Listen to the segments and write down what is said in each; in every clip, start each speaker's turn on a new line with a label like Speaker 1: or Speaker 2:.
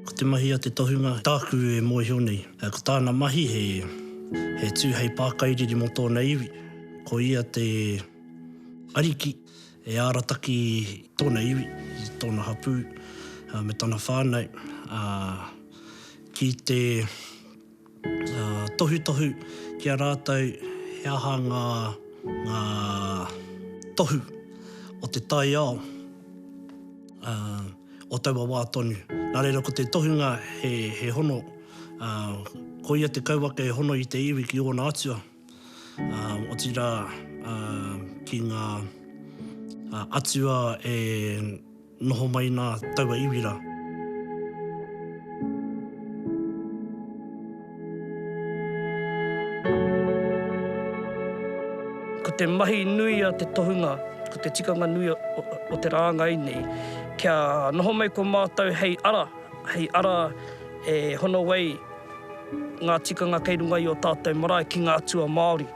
Speaker 1: Ko te mahi a te tohunga tāku e mōhio nei, ko tāna mahi he tū hei pākairiri mō tōna iwi, ko ia te ariki e arataki tōna iwi, tōna hapū me tana whānau ki te Tohutohu ki a rātou he aha ngā tohu o te taiao o taua wā tonu. Nā reira ko te tohunga he hono, koia te kauwaka e hono i te iwi ki ōna atua. Otirā, ki ngā atua e noho mai nā taua iwi rā. Ko te mahi nui a te tohunga, ko te tikanga nui o te rāngai nei, kia noho mai ko mātou hei ara, hei ara e hono ai, Ngā tikanga kei runga i ō tātou marae ki ngā atua Māori.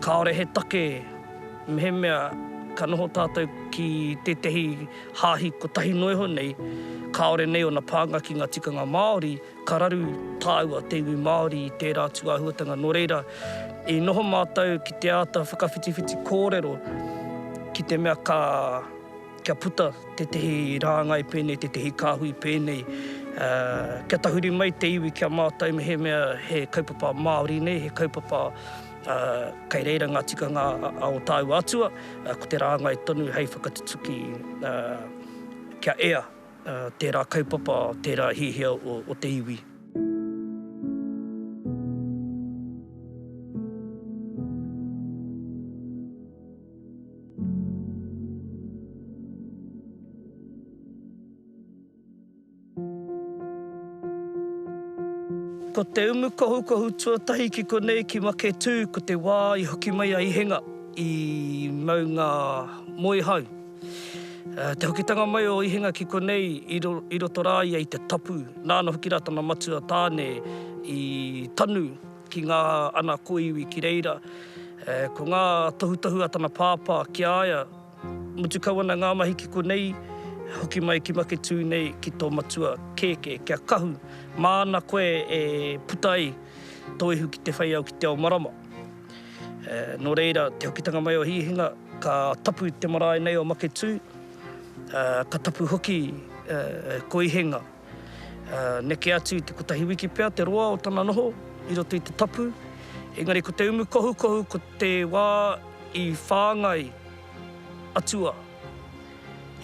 Speaker 1: Kāore he take mehemea ka noho tātou ki tētahi hāhi kotahi noa iho nei, kāore nei ōna pānga ki ngā tikanga Māori, ka raru tāua te iwi Māori i tērā atu āhuatanga. Nō reira, i noho mātou ki te āta whakawhitiwhiti kōrero ki te mea ka. kia puta tētehi rāngai pēnei, tētehi kāhui pēnei, kia tahuri mai te iwi ki a mātou mehemea he kaupapa Māori nei, he kaupapa kei reira ngā tikanga a ō tāua atua, ko te rāngai tonu hei whakatutuki kia ea tērā kaupapa, tērā hiahia o te iwi. Ko te umukohukohu tuatahi ki konei ki Maketū ko te wā i hoki mai a Ihenga i maunga Moehau. Te hokitanga mai o Ihenga ki konei i roto rā ia i te tapu, nāna hoki rā tana matua tāne i tanu. ki ngā ana kōiwi ki reira. Ko ngā tohutohu a tana pāpā ki a ia, mutu kau ana ngā mahi ki konei, hoki mai ki Maketū nei ki tō matua kēkē, ki a Kahu, māna koe e puta ai tō ihu ki te whai au ki te ao marama. Nō reira, te hokitanga mai o Hihinga, ka tapu te marae nei o Maketū, ka tapu hoki ko Ihenga. Neke atu i te kotahi wiki pea te roa o tana noho i roto i te tapu, engari ko te umu kohukohu ko te wā i whāngai atua,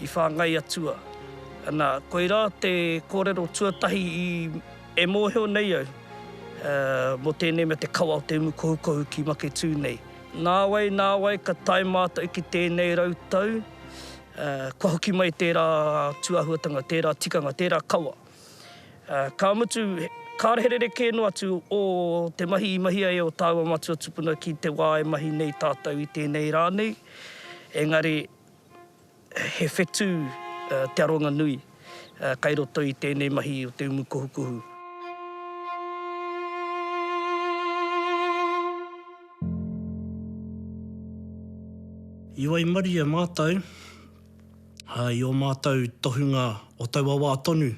Speaker 1: i whāngai atua. Ana, koirā te kōrero tuatahi i, e mōhio nei au, mō tēnei mea te kawa o te umu kohukohu ki Maketū nei. Nāwai, nāwai ka tae mātou ki tēnei rau tau. Kua hoki mai tērā tūāhuatanga, tērā tikanga, tērā kawa. Ka mutu, kāre he rerekē noa atu o te mahi i mahia e ō tāua matua tupuna ki te wā e mahi nei tātou i tēnei rā nei, engari he whetū te aronga nui. kai roto i tēnei mahi o te umu kohukohu. I waimarie mātou i ō mātou tohunga o taua wā tonu.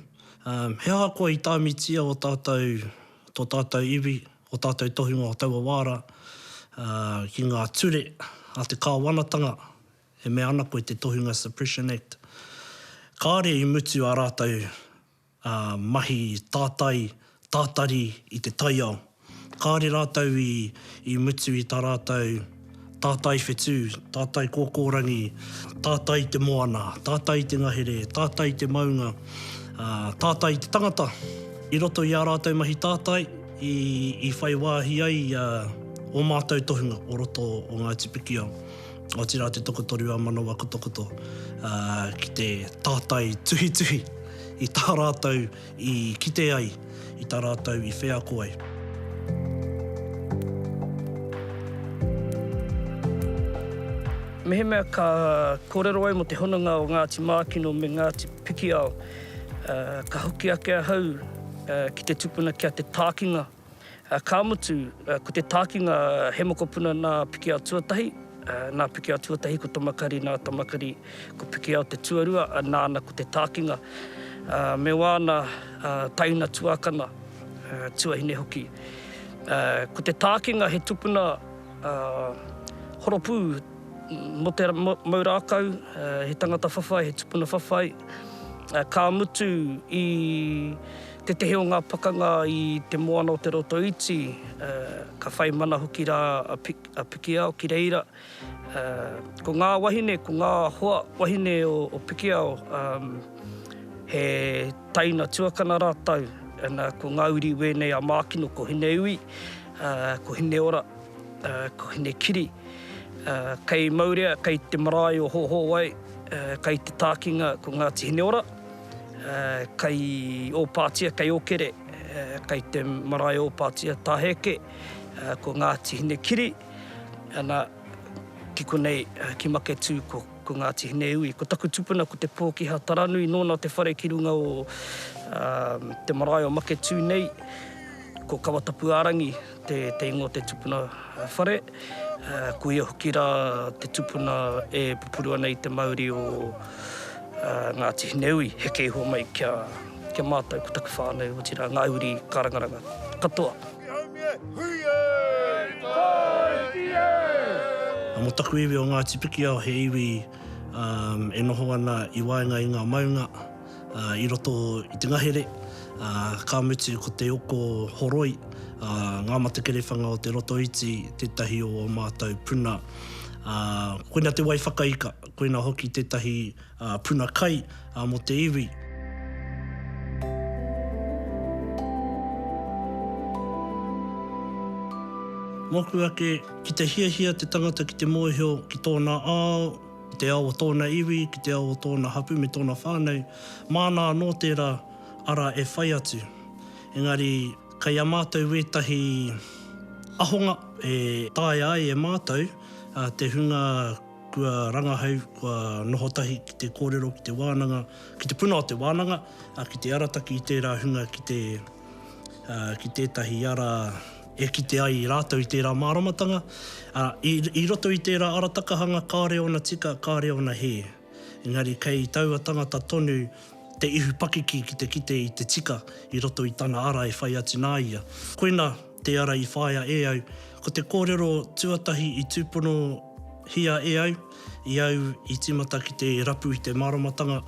Speaker 1: He ahakoa i tāmitia ō tātou, tō tātou iwi, ō tātou tohunga o taua wā rā ki ngā ture a te kāwanatanga, e mea ana koe te Tohunga Suppression Act, kāore i mutu ā rātou mahi tātai, tātari i te taiao. Kāore rātou i mutu i tā rātou tātai whetū, tātai kōkōrangi, tātai i te moana, tātai i te ngahere, tātai i te maunga, tātai i te tangata. I roto i ā rātou mahi tātai i whai wāhi ai ō mātou tohunga o roto o Ngāti Pikiao. otirā te tokotoru a Manawa Kotokoto, ā, ki te tātai tuhituhi i tā rātou i kite ai, i tā rātou i wheako ai. Mehemea ka kōrero au mō te hononga o Ngāti Mākino me Ngāti Pikiao, ka hoki ake ahau ki te tupuna ki a Te Tākinga. Ka mutu, ko te tākinga he mokopuna nā Pikiao tuatahi, nā Pikiao tuatahi ko Tomakari, nā Tomakari ko Pikiao te tuarua, nāna ko te tākinga. Me wāna taina tuākana, tuahine hoki. Ko te tākinga he tupuna horopū mō te mau rākau, he tangata whawhai, he tupuna whawhai. Ka mutu i Tētehi o ngā pakanga i Te Moana o Te Roto Iti, ka whai mana hoki rā a Pikiao ki reira. Ko ngā wahine, ko ngā hoa wahine o Pikiao, he taina tuakana rātou, ko ngā uri wēnei a Mākino, ko Hineiwi, ko Hineora, ko Hinekiri. Kei Maurea, kei te marae o Hōhōwai, kei te tākinga ko Ngāti Hineora. kei Ōpātia, kei Okere, kei te marae o Ōpātia Tāheke, ko Ngāti Hinekiri, ana, ki konei, ki Maketū, ko, ko Ngāti Hineui. Ko taku tupuna ko Te Pōkiha Taranui, nōna te whare ki runga o te marae o Maketū nei, ko Kawatapuārangi. te ingoa te tupuna whare, kuia hoki rā te tupuna e pupuru ana i te mauri o Ngāti Hineui, heke iho mai ki a mātou ko taku whānau, otirā ngā uri karangaranga katoa. Mō taku iwi o Ngāti Pikiao, he iwi e noho ana i waenga i ngā maunga, i roto i te ngahere, ā, ka mutu ko te oko horoi, ā, ngā matakerewhanga o Te Rotoiti tētahi o ō mātou puna, ā, koina te wai whakaika, koina hoki tētahi puna kai mō te iwi. Mōku ake, ki te hiahia te tangata ki te mōhio ki tōna ao, ki te ao o tōna iwi, ki te ao o tōna hapū me tōna whānau, māna anō tērā ara e whai atu. Engari, kei a mātou ētahi ahonga e taea ai e mātou te hunga kua rangahau, kua noho tahi ki te kōrero, ki te wānanga, ki te puna o te wānanga, ki te arataki i tērā hunga ki te, ki tētahi ara, e kite ai rātou i tērā māramatanga, ā, i, i roto i tērā aratakahanga kāore ōna tika, kāore ōna hē. Engari kei taua tangata tonu te ihu pakiki ki te kite i te tika i roto i tana ara e whai atu nā ia. Koina te ara i whāia e au, ko te kōrero tuatahi i tūponohia e au, i au i tīmata ki te rapu i te māramatanga,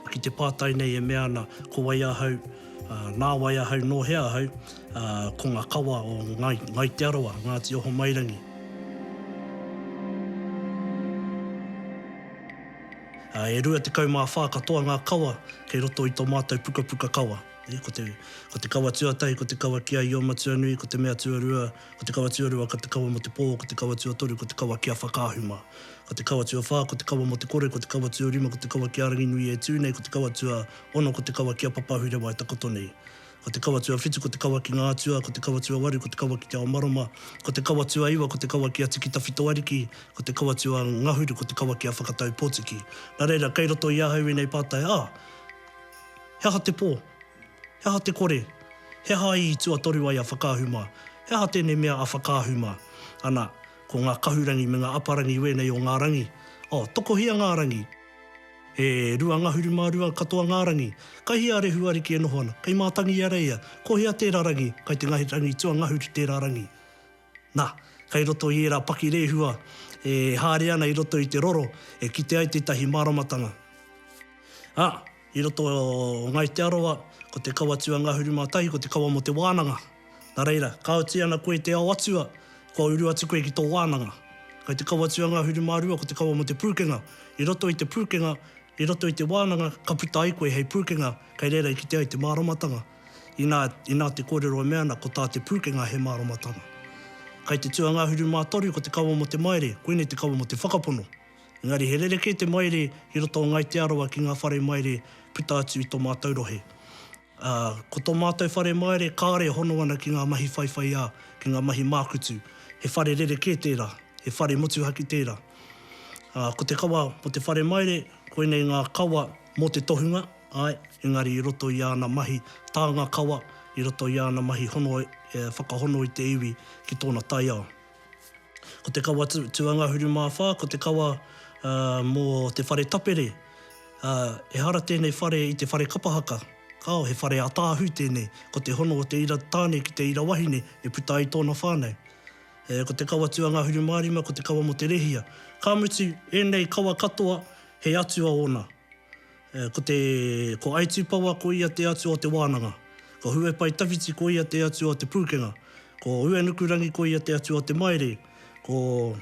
Speaker 1: Ki te pātai nei e mea ana, ko wai ahau, nā wai ahau, nō hea ahau, ko ngā kawa o Ngai, Ngai Te Arawa, Ngāti Ohomairangi. E rua tekau mā whā katoa ngā kawa kei roto i tō mātou pukapuka kawa. Ko te kawa tuatahi ko te kawa ki a Iomatuanui, ko te mea tuarua Ko te kawa tuarua ka te kawa mo te pō, ko te kawa tuatoru ko te kawa ki a Whakaahu mā. Ko te kawa tuawhā ko te kawa mo te kore, ko te kawa tuarima ko te kawa ki a Ranginui e tū nei, ko te kawa tua ono ko te kawa ki a Papaahurewa e takoto nei. Ko te kawa tuawhitu ko te kawa ki ngā atua, ko te kawa tuawaru ko te kawa ki te ao marama, ko te kawa tuaiwa ko te kawa ki a Tiki Tawhito Ariki, ko te kawa tua ngahuru ko te kawa ki a Whakatau Potiki. Na reira, kei roto i ahau enei pātai, ah, he aha te pō? He aha te kore? He aha i tuatoru ai a Whakaahu mā? He aha tēnei mea a Whakaahu mā? Ana, ko ngā kahurangi me ngā aparangi wēnei o ngā rangi. Oh, tokohia ngā rangi! E rua ngahuru mā rua katoa ngā rangi. Kai hea a Rehu Ariki e noho ana? Kai Mātangiareia? Ko hea tērā rangi? Kai te rangi tuangahuru tērā rangi? Nā, kei roto i ērā pakirehua e haere ana i roto i te roro e kite ai tētahi māramatanga. Ā, i roto o Ngāi Te Arawa, ko te kawa tū a Ngahuru mā tahi ko te kawa mō te wānanga. Nā reira, ka oti ana koe i te ao atua, kua uru atu koe ki tō wānanga. Kei te kawa tū a Ngahuru mā rua ko te kawa mō te pūkenga. I roto i te pūkenga, i roto i te wānanga, ka puta ai koe hei pūkenga, kei reira i kite ai te māramatanga. Inā, inā te kōrero e mea ana ko tā te pūkenga he māramatanga. Kai te tū a Ngāhuru Mātaru ko te kawa mō te maire, koinei te kawa mō te whakapono. Engari he rerekē te maire i roto o Ngai Te Arawa ki ngā whare maire puta atu i tō mātou rohe. Ā, ko tō mātou whare maire kāore e hono ana ki ngā mahi whaiwhaiā, ki ngā mahi mākutu. He whare rerekē tērā, he whare motuhake tērā. Ā, ko te kawa mō te whare maire, koinei ngā kawa mō te tohunga. Āe, engari i roto i āna mahi tānga kawa, i roto i āna mahi hono e whakahono i te iwi ki tōna taiao. Ko te kawa tuangahuru mā whā, ko te kawa mō te whare tapere, ā, ehara tēnei whare i te whare kapa haka, kāo, he whare ātaahu tēnei, ko te hono o te ira tāne ki te ira wahine e puta ai tōna whānau. E, ko te kawa tuangahuru mā rima, ko te kawa mō te rehia. Ka mutu, ēnei kawa katoa, he atua ōna. Ko te, ko Aitūpawa ko ia te atua o te wānanga, ko Huepaitāwhiti ko ia te atua o te pūkenga, ko Uenukurangi ko ia te atua o te maere, ko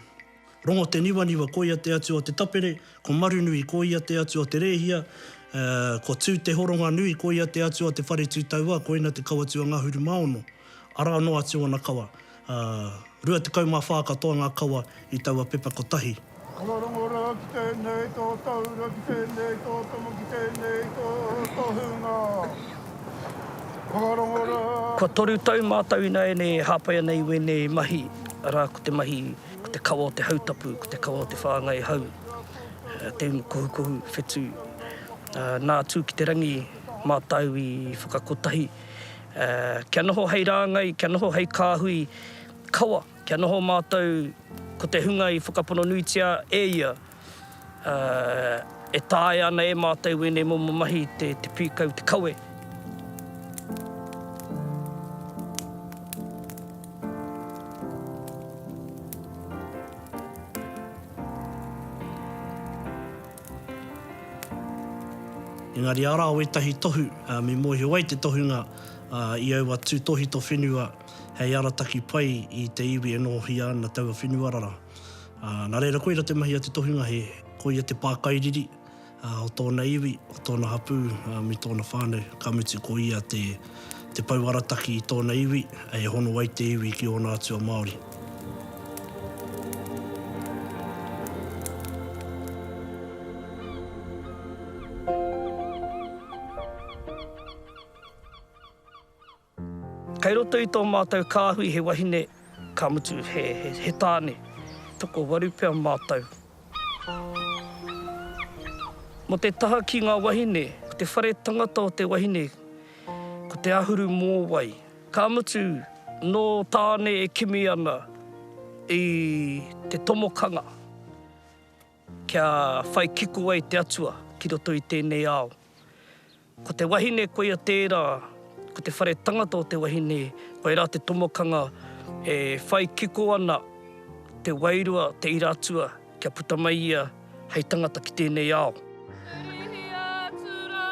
Speaker 1: Rongoteniwaniwa ko ia te atua o te tapere, ko Marunui ko ia te atua o te rēhia, ko Tūtehoronganui ko ia te atua o te whare tūtauā, koina te kawa tuangahuru mā ono, arā noa atu ōna kawa. Ā, rua tekau mā whā katoa ngā kawa i taua pepa kotahi. Kua rongoā ki tēnei tō Taura, ki tēnei tō Tomo, ki tēnei tō Tohunga. Kua rongoā. Kua toru tau mātou ināianei e hāpai ana i wēnei mahi, arā, ko te mahi, ko te kawa o te hautapu, ko te kawa o te whāngai hau, te unu kohukohu, whetū. Nā, tū ki te rangi mātou i whakakotahi. Ā, kia noho hei rāngai, kia noho hei kāhui kawa, kia noho mātou ko te hunga i whakapono nuitia e ia, ā, e taea ana e mātou ēnei momo mahi te pīkau, te kawe. Engari arā wētahi tohu, me mōhio ai te tohunga i aua tūtohito whenua hei arataki pai i te iwi e nohohia ana taua whenua rara. Nā reira koira te mahi a te tohunga he koia te pākairiri o tōna iwi, o tōna hapū me tōna whānau, ka mutu ko ia te. te pou arataki i tōna iwi, e hono ai te iwi ki ōna atua Māori. Kei roto i tō mātou kāhui he wahine, ka mutu he tāne, toko waru pea mātou, Mo te taha ki nga wahine, ko te whare tangata o te wahine, ko te ahuru mōwai. Ka mutu, no Tāne e kimi ana i te tomokanga kia whai kiko ai te Atua ki roto i tēnei ao. Ko te wahine koia tērā, ko te whare tangata o te wahine, koirā te tomokanga e whai kiko ana te wairua, te ira atua kia puta mai ia hei tangata ki tēnei ao. Hihia atu rā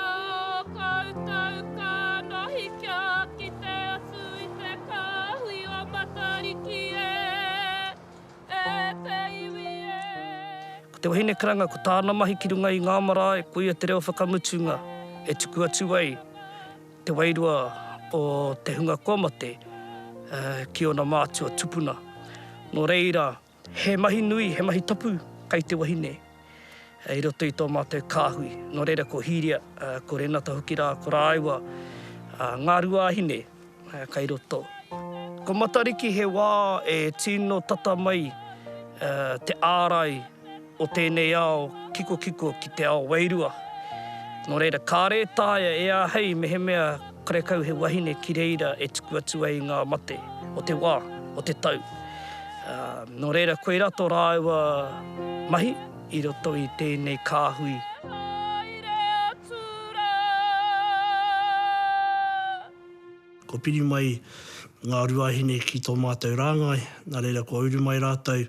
Speaker 1: koutou ka mahi kia kite atu i te kāhui o Matariki e. e te iwi e. Ko te wahine karanga ko tāna mahi ki runga i ngā marae koia te reo whakamutunga e tuku atu ai te wairua o te hunga kua mate ki ōna mātua tupuna. Nō reira, he mahi nui, he mahi tapu kei te wahine. i roto i tō mātou kāhui. Nō reira ko Hīria, ko Renata hoki rā, ko rāua ngā ruāhine kai roto. Ko Matariki he wā e tino tata mai te ārai o tēnei ao kikokiko ki te ao wairua. Nō reira, kāre e taea e āhei mehemea Karekau he wahine ki reira e tuku atu ai ngā mate o te wā, o te tau. Nō reira, koirā tō rāua mahi i roto i tēnei kāhui. Kua piri mai ngā ruahine ki tō mātou rāngai, nā reira kua uru mai rātou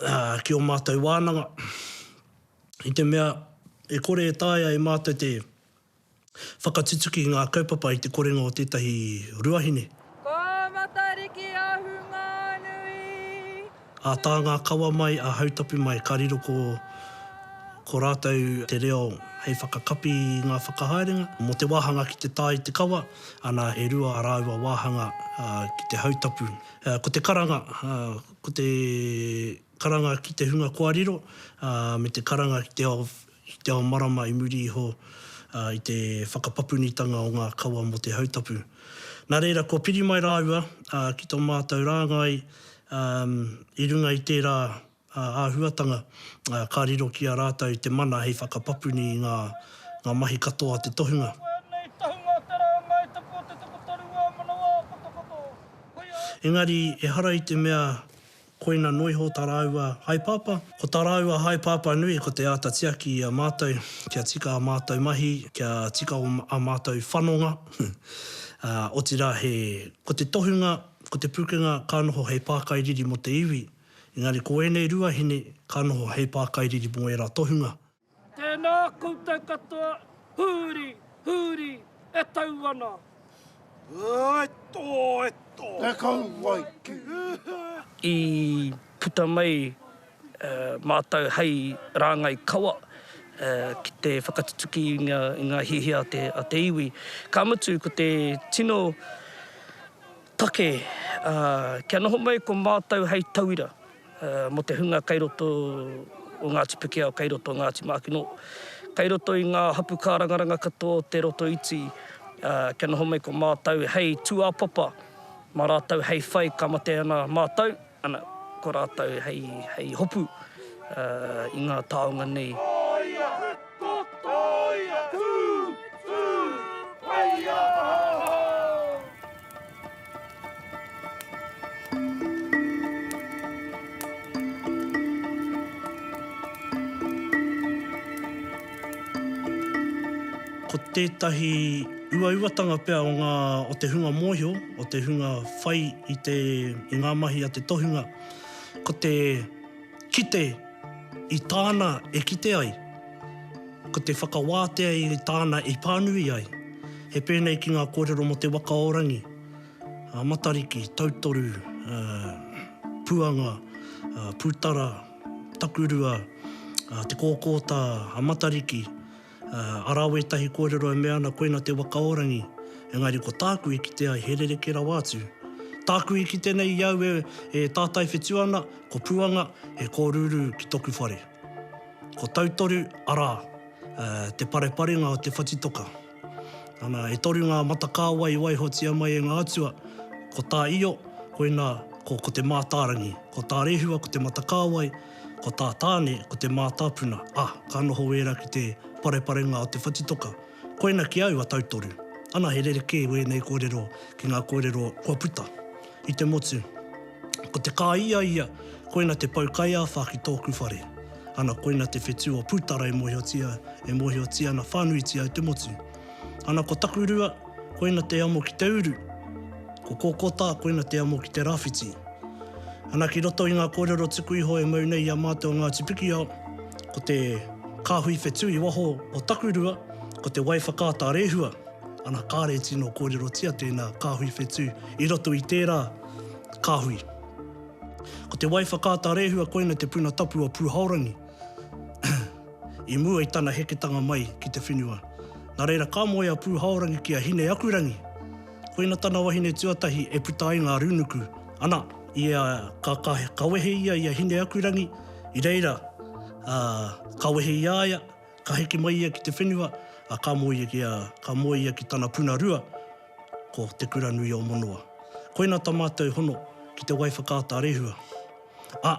Speaker 1: ki ō mātou wānanga, i te mea e kore e taea e mātou te whakatutuki i ngā kaupapa i te korenga o tētahi ruahine. Ko Matariki a Whunganui. A Tāngākawa mai, a Hautapu mai, ka riro ko ko rātou te reo hei whakakapi i ngā whakahaerenga mō te wāhanga ki te tae i te kawa, ana, e rua ā rāua wāhanga ki te hautapu. Ko te karanga, ko te karanga ki te hunga kua riro, ā, me te karanga ki te ao, ki te ao marama i muri iho, ā, i te whakapapunitanga o ngā kawa mō te hautapu. Nā reira, kua piri mai rāua, ā, ki tō mātou rāngai, ā, i runga i tērā, ā, āhuatanga, ā, ka riro ki a rātou te mana hei whakapapuni i ngā, ngā mahi katoa a te tohunga. Ko ēnei tohunga te rāngai tuku o te tukutoru wā manawa o Kotokoto. Engari, ehara i te mea koina noa iho tā rāua haepapa. Ko tā rāua haepapa nui ko te āta tiaki i a mātou kia tika ā mātou mahi, kia tika ā mātou whanonga, ā, otirā he, ko te tohunga, ko te pukenga ka noho hei pākairiri mō te iwi, engari ko ēnei ruahine ka noho hei pākairiri mō ērā tohunga. Tēnā koutou katoa, huri, huri, e tau ana. Āe tō, e tō. E kauae ki uta. I puta mai mātou hei rāngai kawa ki te whakatutuki i ngā hiahia a te iwi. Ka mutu, ko te tino Take, ā, kia noho mai ko mātou hei tauira mō te hunga kei roto o Ngāti Pikiao, kei roto o Ngāti Mākino, kei roto i ngā hapu kārangaranga katoa o Te Roto Iti, ā, kia noho mai ko mātou hei tūāpapa mā rātou hei whai ka mate ana mātou. Ana ko rātou hei hopu i ngā taonga nei. Tōia! Tō tōia! Tū! Tū! Whai aha! Ko tētahi uauatanga pea o te hunga mōhio, o te hunga whai i te, i ngā mahi a te tohunga, ko te kite i tāna e kite ai, ko te whakawātea i tāna e pānui ai. He pēnei ki ngā kōrero mō te waka o Rangi, a Matariki, Tautoru, ā, Puanga, ā, Pūtara, Takurua, ā, Te Kōkōta, a Matariki, Arā wētahi kōrero e mea ana koina te wakaorangi, engari ko tāku i kite ai he rerekē rawa atu. Tāku i kite nei i au e tātai whetū ana ko Puanga he kōrūrū ki toku whare. Ko Tautoru, arā, te pareparenga o te whatitoka. Ana, e toru ngā mata kāwai i waihotia mai e ngā atua, ko tā Io, koina ko Ko te Mātārangi, ko tā Rehua ko Te Mata Kāwai, Ko tā Tāne, ko te mātāpuna, a, ka noho wēra ki te pareparenga o te whatitoka. Koina ki au a Tautoru. Ana he rerekē wēnei kōrero ki ngā kōrero kua puta. I te motu, ko te kā ia ia, koina te pou kaiāwhā ki tōku whare. Ana koina te whetū o Pūtara e mōhiotia, e mōhiotia ana whānuitia i te motu. Ana ko Takurua, koina te amo ki te uru. Ko Kokota, koina te amo ki te rawhiti. Ana ki roto i nga korero tuku iho e mau nei i a matou Ngati Pikiao, ko te kahui whetu i waho o Takurua, ko te wai whakaata rehua. Ana kare tino korerotia tena kahui whetu i roto i tera kahui. Ko te wai whakaata rehua koina te puna tapu o Puhaorangi. I mua i tana heketanga mai ki te whenua, nā reira ka moe a Pūhaorangi ki a Hine-aku-rangi. Koina tana wahine tuatahi e puta ai ngā rūnuku, ana, i a, ka, ka, ka wehe ia i a Hine-aku-rangi, i reira, ā, ka wehe i a ia, ka heke mai ia ki te whenua, ā, ka moe ia ki a, ka moe ia ki tana puna rua, ko Te Kuranui-o-monoa. Koina ta mātou hono ki te wai whakaata rehua. Ā,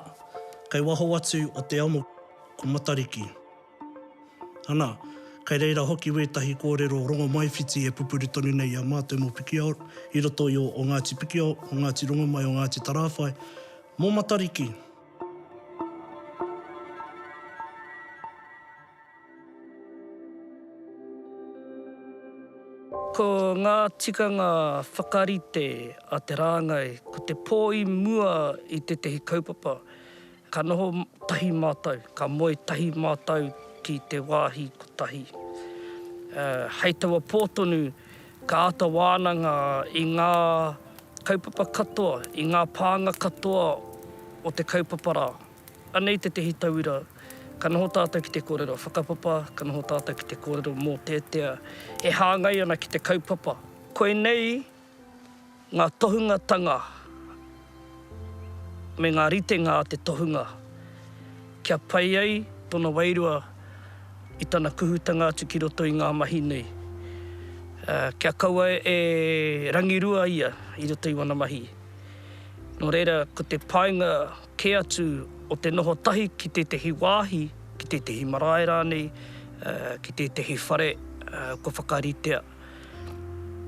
Speaker 1: kei waho atu o te amo. Ko Matariki. Ana, kei reira hoki wētahi kōrero rongomaiwhiti e pupuri tonu nei i a mātou mō Pikiao, i roto i o Ngāti Pikiao, o Ngāti Rongomai, o Ngāti Tarāwhai, mō Matariki. Ko ngā tikanga whakarite a te rāngai ko te pō i mua i tētahi kaupapa. Ka noho tahi mātou, ka moe tahi mātou ki te wāhi kotahi. Hei taua pō tonu, ka āta wānanga i ngā kaupapa katoa, i ngā pānga katoa o te kaupapa rā. Anei tētehi tauira, ka noho tātou ki te kōrero whakapapa, ka noho tātou ki te kōrero mōteatea e hāngai ana ki te kaupapa. Koinei Ngā tohungatanga me ngā ritenga a te tohunga kia pai ai tona wairua i tana kuhutanga atu ki roto i ngā mahi nei. Kia kaua e rangirua ia i roto i wana mahi. Nō reira, ko te painga kē atu o te noho tahi ki tētehi wāhi, ki tētehi marae rānei, ki tētehi whare kua whakaritea.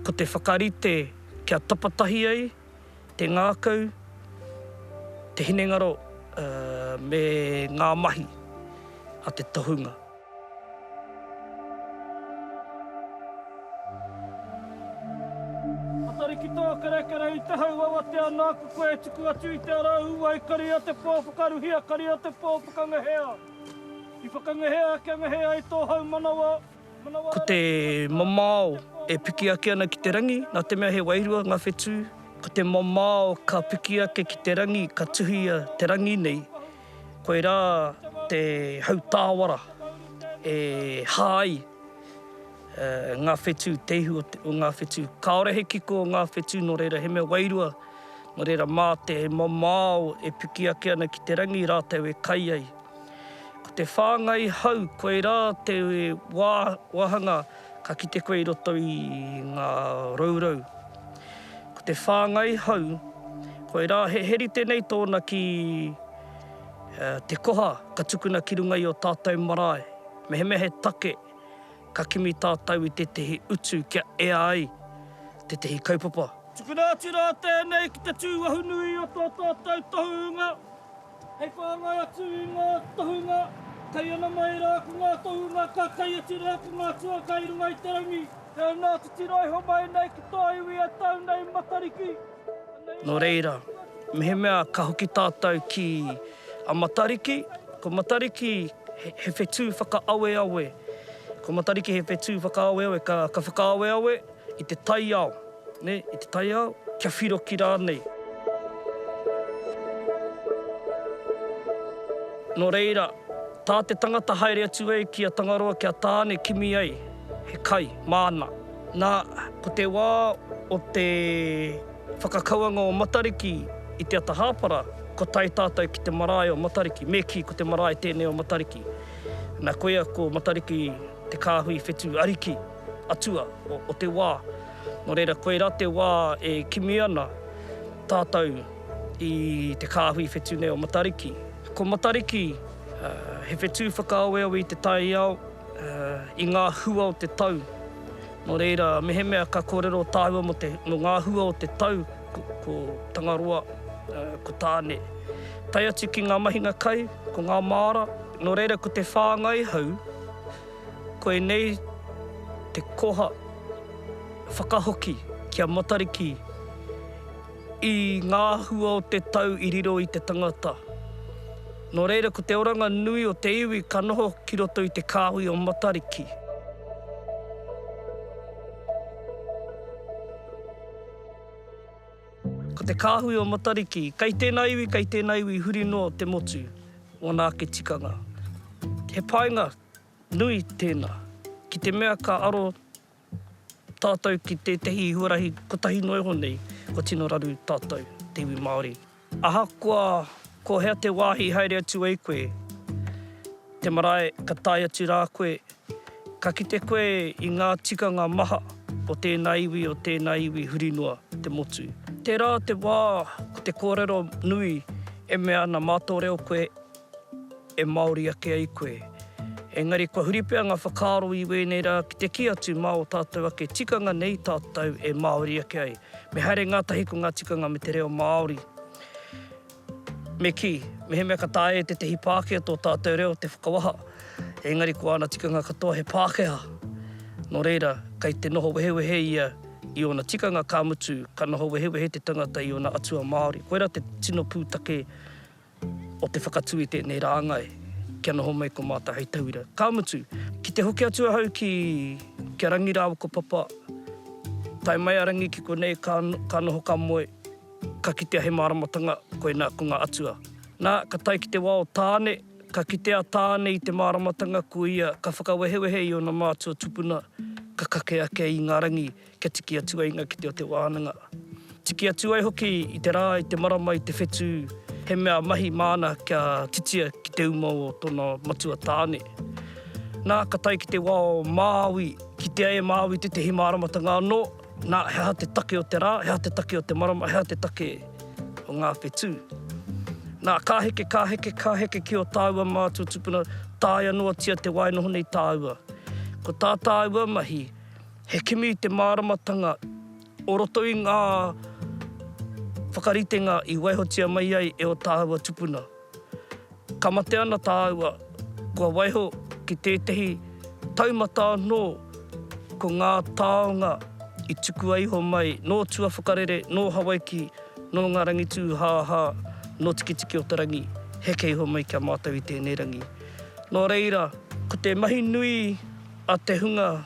Speaker 1: Ko te whakarite kia tapatahi ai te ngākau, te hinengaro me ngā mahi a te tohunga. Matarikitō kerekere i te hau awatea nāku koe e tuku atu i te ara ū ai kari a te pō whakaruhia kari a te pō whakangahea. I whakangahea kia ngahe ai tō haumanawa. Ko te mamao e piki ake ana ki te rangi, nā te mea he wairua ngā whetū, ko te mamao ka piki ake ki te rangi, ka tuhia te rangi nei, koirā te hautāwara e hā ai ngā whetū, te ihu o ngā whetū. Kāore he kiko o ngā whetū, nō reira he mea wairua, nō reira mā te mamao e piki ake ana ki te rangi rātou e kai ai. Ko te whāngai hau koirā te wā wāhanga ka kite koe i roto i ngā rourou. Ko te whāngai hau koirā he heri tenei tōna ki te koha ka tukuna ki runga i o tātou marae mehemea he take ka kimi tātou i tētehi utu kia ea ai tētehi kaupapa. Tukuna atu rā tēnei ki te tū wahunui o tō tātou tohunga Hei whāngai atu i ngā tohunga kei ana mai rā ko ngā tohunga ka kai atu rā ko ngā tuaka i runga i te rangi. He aha ngā titiro e homai nei ki tō iwi e tau nei Matariki? Nō reira, mehemea ka hoki tātou ki a Matariki, ko Matariki he whetū whakaaweawe, ko Matariki he whetū whakaaweawe, ka whakaaweawe, I te taiao, nē, i te taiao, kia whiroki rānei. Nō reira, tā te tangata haere atu ai ki a Tangaroa ki a Tāne kimi ai he kai māna. Nā, ko te wā o te whakakauanga o Matariki i te ata hāpara, kua tae tātou ki te marae o Matariki, me kī, ko te marae tēnei o Matariki. Nā, koia ko Matariki. te kāhui whetū ariki, atua, o te wā. Nō reira, koirā te wā e kimi ana tātou i te kāhui whetū nei o Matariki. Ko Matariki, he whetū whakaaweawe i te taiao, i ngā hua o te tau. Nō reira, mehemea ka kōrero tāua mō te, mō ngā hua o te tau, ko Tangaroa, ko Tāne. Tae atu ki ngā mahinga kai, ko ngā māra, nō reira ko te whāngai hau, koinei te koha whakahoki ki a Matariki, I ngā hua o te tau i riro i te tangata. Nō reira ko te oranga nui o te iwi ka noho ki roto i te kāhui o Matariki. Ko te kāhui o Matariki, kei tēnā iwi, kei tēnā iwi huri noa te motu, ōna ake tikanga. He painga nui tēnā, ki te mea ka aro Tātou ki tētehi huarahi kotahi noa iho nei, kua tino raru tātou, te iwi Māori. Ahakoa ko hea te wāhi i haere atu ai koe, te marae ka tae atu rā koe, ka kite koe i ngā tikanga maha o tēnā iwi, o tēnā iwi huri noa, te motu. Tērā te wā ko te kōrero nui e mea ana mā tō reo koe. e Māori ake ai koe. Engari kua huri pea ngā whakaaro i wēnei rā ki te kī atu mā ō tātou ake tikanga nei tātou e Māori ake ai. Me haere ngātahi ko ngā tikanga me te reo Māori. Me kī, mehemea ka taea e tētahi Pākehā tō tātou reo te whakawaha, engari ko āna tikanga katoa he Pākehā. Nō reira, kei te noho wehewehe ia i ōna tikanga, ka mutu, ka noho wehewehe te tangata i ōna atua Māori. Koirā te tino pūtake. o te whakatū i tēnei rāngai kia noho mai ko mātou hei tauira. Ka mutu, ki te hoki atu ahau ki a Rangi rāua ko Papa, tae mai a Rangi ki konei ka ka noho ka moe, ka kitea he māramatanga, koinā ko ngā atua. Nā, ka tae ki te wā o Tāne, ka kite a Tāne i te māramatanga ko ia ka whakawehewehe i ōna mātua tupuna, ka kake ake i ngā rangi Kia tiki atu ai ngā kete o te wānanga. Tiki atu ai hoki i te rā, i te marama, i te whetū, he mea mahi māna kia titia ki te uma o tōna matua tāne. Nā, ka tae ki te wā o Māui, kitea e Māui tētehi māramatanga anō, nā, he aha te take o te rā, he aha te take o te marama, he aha te take o ngā whetū. Nā, ka heke, ka heke, ka heke ki ō tāua mātua tūpuna, taea noatia te wāinoho nei tāua. Ko tā tāua mahi, He kimi i te māramatanga o roto i ngā whakaritenga i waihotia mai ai e ō tāua tupuna. Ka mate ana tāua, kua waiho ki tētehi taumata anō ko ngā taonga i tukua iho mai nō tua whakarere, nō Hawaiki, nō ngā rangitūhāhā, nō Tikitiki-o-te-rangi, heke iho mai ki a mātou i tēnei rangi. Nō reira, ko te mahi nui a te hunga,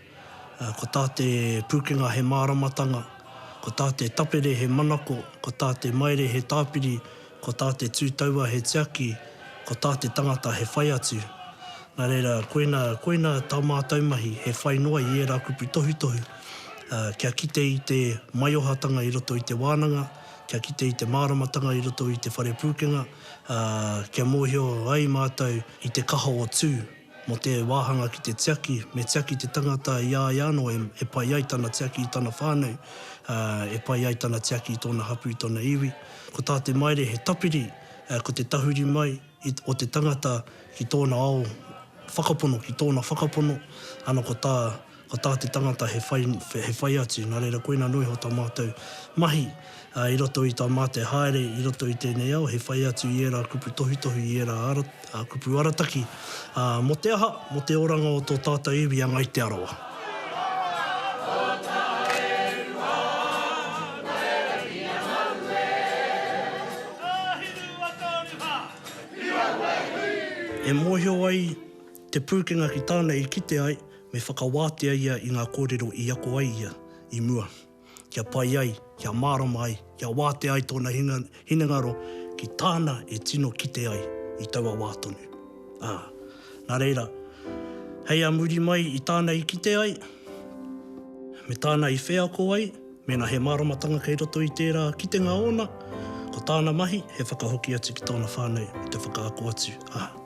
Speaker 1: Ko tā te pūkenga he māramatanga, ko tā te tapere he manako, ko tā te maere he tāpiri, ko tā te tū taua he tiaki, ko tā te tangata he whai atu. Nā reira, koina, koina tā mātou mahi, he whai noa i ērā kupu tohutohu, ā, kia kite i te maiohatanga i roto i te wānanga, kia kite i te māramatanga i roto i te whare pūkenga, ā, kia mōhio ai mātou i te kaha o Tū. Mō te wāhanga ki te tiaki, me tiaki te tangata i a ia anō e pai ai tana tiaki i tana whānau, ā, e pai ai tana tiaki i tōna hapū, i tōna iwi. Ko tā te Maire he tapiri, ā, ko te tahuri mai i, o te tangata ki tōna ao whakapono, ki tōna whakapono, ana ko tā Ko tā te tangata he whai, he whai atu, nā reira koina anō iho tā mātou mahi i roto i tā mātou haere i roto i tēnei ao, he whai atu i ērā kupu tohutohu, i ērā kupu arataki, mō te aha, mō te oranga o tō tātou iwi a Ngai Te Arawa. E mōhio ai te pūkenga ki tāna i kite ai, Me whakawātea ia i ngā kōrero i ako ai ia i mua, kia pai ai, kia mārama ai, kia wātea ai tōna hinengaro ki tāna e tino kite ai i taua wā tonu. Ā, nā reira, hei a muri mai i tāna i kite ai, me tāna i wheako ai, mēnā he māramatanga kei roto i tērā kitenga ōna, ko tāna mahi he whakahoki atu ki tōna whānau me te whakaako atu, ā.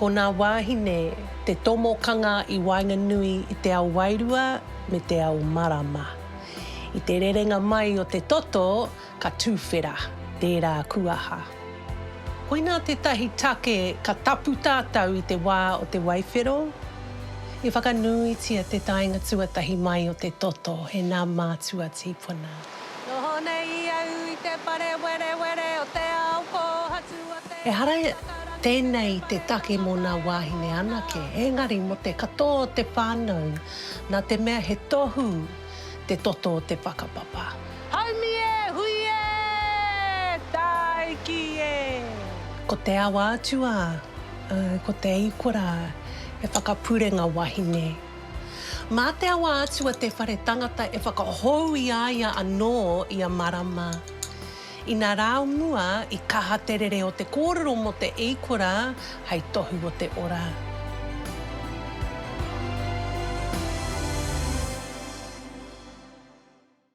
Speaker 1: Ko nā wāhine te tomokanga i waenganui i te ao wairua me te ao marama. I te rerenga mai o te toto, Ka tuwhera tērā kuaha. Koinā tētahi take ka tapu tātou i te wā o te waiwhero, i whakanuitia te taenga tuatahi mai o te toto e nā mātua tīpuna. Noho nei i au i te whare werewere o te ao kōhatu o te Ehara tēnei i te take mō nā wāhine anake, engari mō te katoa o te whānau, nā te mea he tohu te toto o te whakapapa. Haumi e! Hui e! Tāiki e! Ko te awa atu ā, ko te iko rā, he whakapurenga wahine. Mā te awa atu a te whare tangata e whakahou i a ia anō ia marama. Ina rā o mua i kaha te rere o te kōrero mō te eikora hei tohu o te ora.